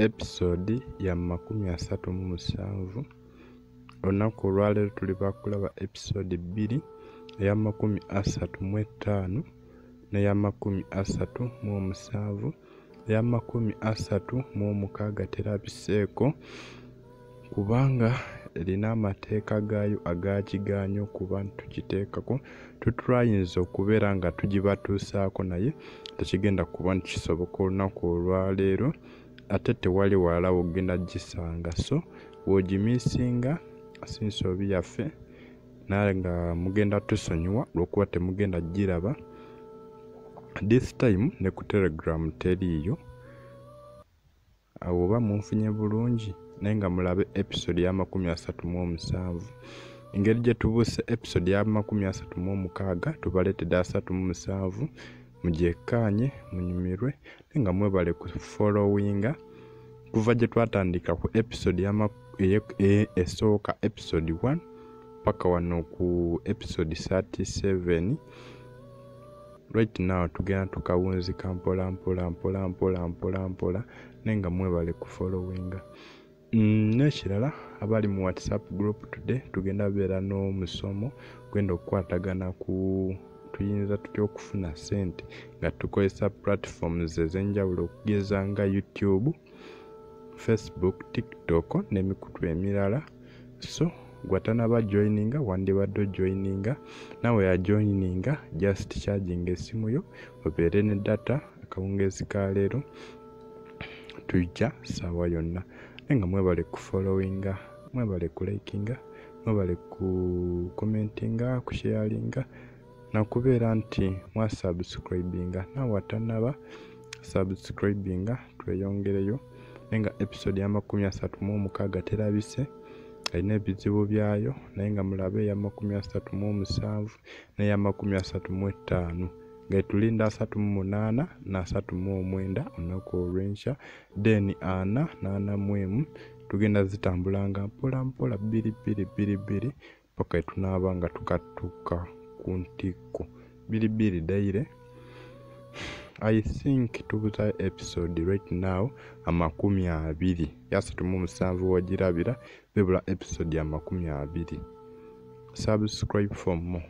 episode ya makumi asatu mu musanvu olunaku olwaleero tuli bakulaba episode bbiri eya makumi asatu mu ettaano neya makumi asatu mu omusanvu eya makumi asatu mu omukaaga terabiseeko kubanga erina amateeka gaayo agakigaanya okuba ntukiteekako tutrayinza okubeera nga tugibatuusaako naye tekigenda kuba nti kisoboka olunaku olwaleero ate tewali walala wogenda gisanga so wogimisinga sinsobi yaffe naye nga mugenda tusonyiwa olwokuba temugenda giraba this time ne ku telegram teriiyo awo oba munfunye bulungi naye nga mulabe episode ya makumi asatu mu omusanvu engeri gye tubuuse episode ya makumi asatu mu omukaaga tubaleetedde asatu mu musanvu mugyekkaanye munyumirwe naye nga mwebale ku followinga kuva gye twatandika ku episode esooka episode 1 paka wano ku episode 37 right now tugenda tukawunzika mpola mpola mpola mpola mpola mpola naye nga mwebale ku followinga mm, nekirala abali mu whatsapp group today tugenda beera n'omusomo gwenda okukwatagana ku tuyinza tutya okufuna sente nga tukozesa platforms ezenjawulo okugeza nga youtube facebook tiktok n'emikutu emirala so gwatanaba joininga wandibadde ojoininga nawe yajoininga just charging esimu yo obeere ne data akawungeezi ka leero tujja saawa yonna naye nga mwebale kufollowinga mwebale kulikinga mwebale kukomentinga kusheyalinga nakubeera nti mwa subscribinga naawe atanaba subscribinga tweyongereyo naye nga episode yamakumi asatu mu omukaaga terabise erina ebizibu byayo naye nga mulabe eyamakumi asatu mu omusanvu neyamakumi asatu mu ettaano ngetulinda asatu mu munaana nasatu mu omwenda olunaku olwenkya then ana nana mu emu tugenda zitambulanga mpola mpola bbiri bbiri bbiri bbiri paka etunaaba nga tukatuuka ku ntikko biri biri daire i think tubuza episode right now amakumi abiri yasatu mu musanvu wagirabira bebula episode amakumi abiri subscribe for more